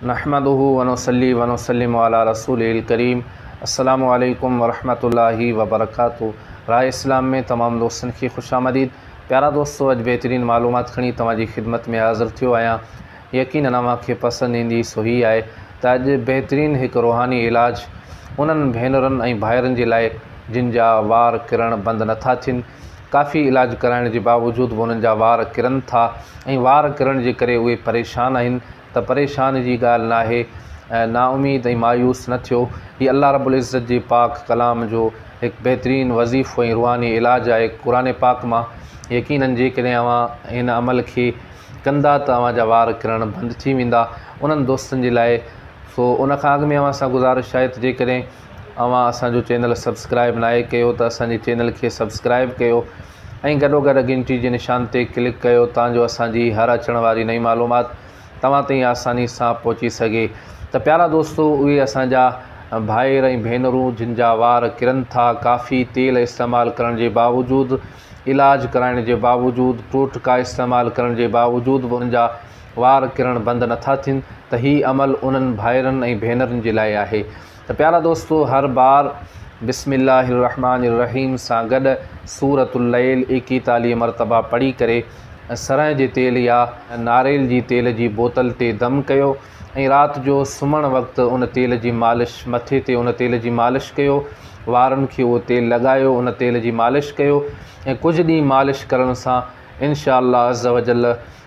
نحمده ونصلي ونسلم علي رسوله الڪريم السلام عليڪم ورحمة الله وبرڪاته راء اسلام ۾ تمام دوستن کي خوش آمديد پيارا دوستو اڄ بهترين معلومات کڻي توهان جي خدمت ۾ حاضر ٿيو آهيان يقينن اوهان کي پسند ايندي سو هي آهي ته اڄ بهترين هڪ روحاني علاج انهن ڀينرن ۽ ڀائرن جي لاء جن جا وار ڪرڻ بند نٿا ٿين ڪافي علاج ڪرائڻ جي باوجود به انهن جا وار ڪرن ٿا ۽ وار ڪرڻ جي ڪري اهي پريشان آهن ته پريشان جي ڳالهه ناهي نااميد ۽ مايوس نه ٿيو هي الله رب العزت جي پاڪ ڪلام جو هڪ بهترين وظيفو ۽ روحاني علاج آهي قرآن پاڪ مان يقينن جيڪڏهن اوهان هن عمل کي ڪندا ته اوهان جا وار ڪرڻ بند ٿي ويندا انهن دوستن جي لاء سو ان کان اڳ ۾ اوهان سان گذارش آهي ته جيڪڏهن اوهان اسان جو چينل سبسڪرائب ناهي ڪيو ته اسان جي چينل کي سبسڪرائب ڪيو ۽ گڏو گڏ گهنٽي جي نشان تي ڪلڪ ڪيو تان جو اسان جي هر اچڻ واري نئين معلومات توهان تائين آساني سان پهچي سگهي ته پيارا دوستو اهي اسان جا ڀائر ۽ ڀينرون جن جا وار ڪرن ٿا ڪافي تيل استعمال ڪرڻ جي باوجود علاج ڪرائڻ جي باوجود ٽوٽڪا استعمال ڪرڻ جي باوجود به انهن جا وار ڪرڻ بند نٿا ٿين ته هي عمل انهن ڀائرن ۽ ڀينرن جي لاء آهي ته پيارا دوستو هر بار بسم الله الرحمٰن الرحيم سان گڏ سورة الليل ايڪيتاليهه مرتبا پڙهي ڪري سرنهن جي تيل يا ناريل جي تيل جي بوتل تي دم ڪيو ۽ رات جو سمهڻ وقت ان تيل جي مالش مٿي تي ان تيل جي مالش ڪيو وارن کي اهو تيل لڳايو ان تيل جي مالش ڪيو ۽ ڪجهه ڏينهن مالش ڪرڻ سان انشاء الله عزّ وجلّ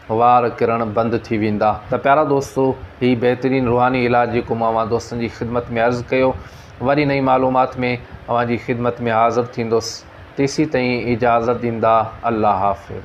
وار ڪرڻ بند ٿي ويندا. ته پيارا دوستو هي بهترين روحاني علاج جيڪو مون اوهان دوستن جي خدمت ۾ عرض ڪيو وري نئين معلومات ۾ اوهان جي خدمت ۾ حاضر ٿيندس تيسين تائين اجازت ڏيندا الله حافظ.